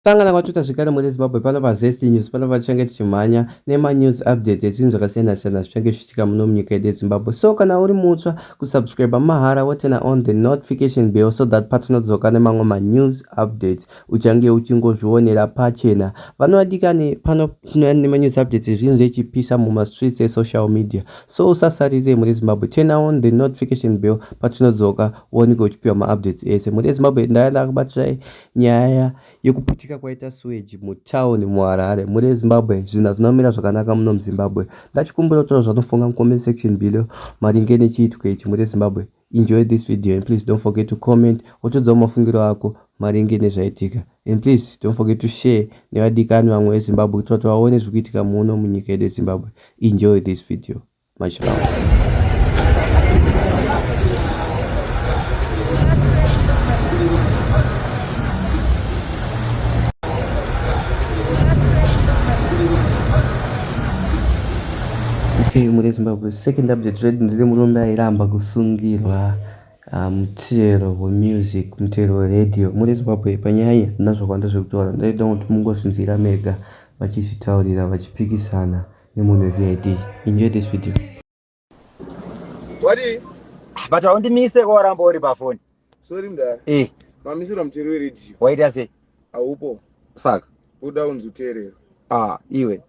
Sangana kwaTwitter zvekare muri Zimbabwe pano paZest News pano patichange tichimhanya nemanews updates ezvinhu zvakasiyana siyana zvichange zvichiitika muno munyika yedu yeZimbabwe. So kana uri mutsva kusubscribe mahara woturna on the notification bell so that patinodzoka nemamwe manews updates uchange uchingozvionera pachena. Vana vadikani pano tine nemanews updates ezvinhu zvechipisa mumastreets esocial media. So usasarire muri Zimbabwe turna on the notification bell patinodzoka uoneke uchipiwa maupdates ese. Muri Zimbabwe ndaya ndakubatirai. Nyaya yekuputika kwaita sewage mutown muHarare muri eZimbabwe zvinhu hazvina kumira zvakanaka muno muZimbabwe. Ndachikumbira kutaura zvanofunga mucomment section below maringe nechiitiko ichi muri eZimbabwe. Enjoy this video and please don't forget to comment wotiudzawo mafungiro ako maringe nezvaitika and please don't forget to share nevadikani vamwe veZimbabwe kuitira kuti vaone zviri kuitika muno munyika yedu yeZimbabwe. Enjoy this video. Much love. Hey, muri Zimbabwe second update redu ndiri murume airamba kusungirwa ah, mutero wemusic mutero weradio muri Zimbabwe panyaya iyi handina zvakawanda zvekutaura ndaida kuti mungozvinzwira mega vachizvitaurira vachipikisana nemunhu weVID. Enjoy this video. Wadi? But haundimise ko waramba uri pafoni. Sorry mdara. Eh. Mamisira mutero weredio. Waita sei? Haupo. Saka? Uda unzi uteerero. Ah, iwe.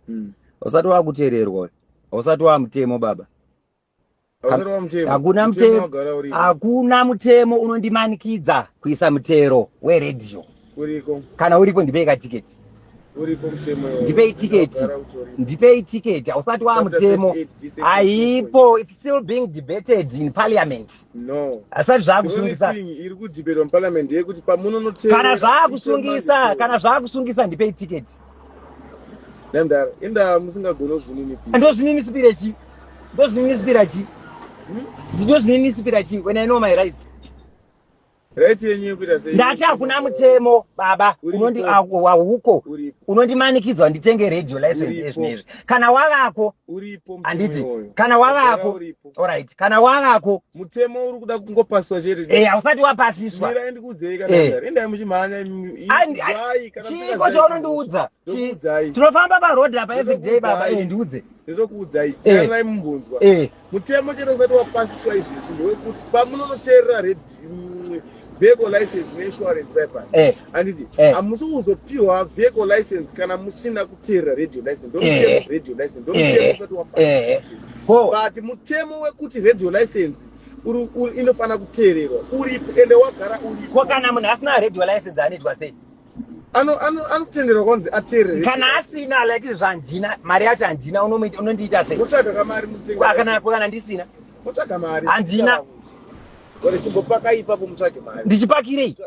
Mm. Usati wakuteererwa. Usati wamutemo baba. hakuna mutemo hakuna mutemo unondimanikidza kuisa mutero weredio kana uripo ndipei katiketi ndipei tiketi ndipei tiketi hausati waa mutemo haipo its still being debated in parliament hasati zvaakusungisakana zvaakusungisa kana zvaakusungisa ndipei tiketi nandara inda musingagoni kuzvininipira ndozvininisipira chi ndozvininisipira chi hmm? ndozvininisipira chi when i know my rights right yenyu yekuita sei ndati hakuna mutemo baba unondi wahuko unondimanikidzwa nditenge radio license ezvinezvi kana wavako uripo handiti kana wavako Alright, kana wavako mutemo uri kuda kungopasiswa chete eh hausati wapasiswa mira endi kudzei kana eh. ndari endai muchimhanya andi chiko chaunondiudza tinofamba pa road apa every day baba eh ndiudze ndokuudzai eh. kana mumvunzwa eh. mutemo chete usati wapasiswa izvi ndokuti pamunonoteerera red vehicle license neinsurance paipani eh. handiti eh. hamusi kuzopiwa vehicle license kana musina kuteerera radio license eh. radio license ndomutemo usati wapaa but mutemo wekuti radio license inofanira kuteererwa uripo ende wagara uripo ko kana munhu asina radio license anoitwa sei anotenderwa kwanzi ateerere kana asina like izvo handina mari yacho handina unondiita sei utsvaga kamari mutengakanako kana ndisina utsvaga mari handina ndichipakirei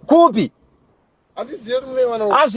kupi handizive kuti mune wana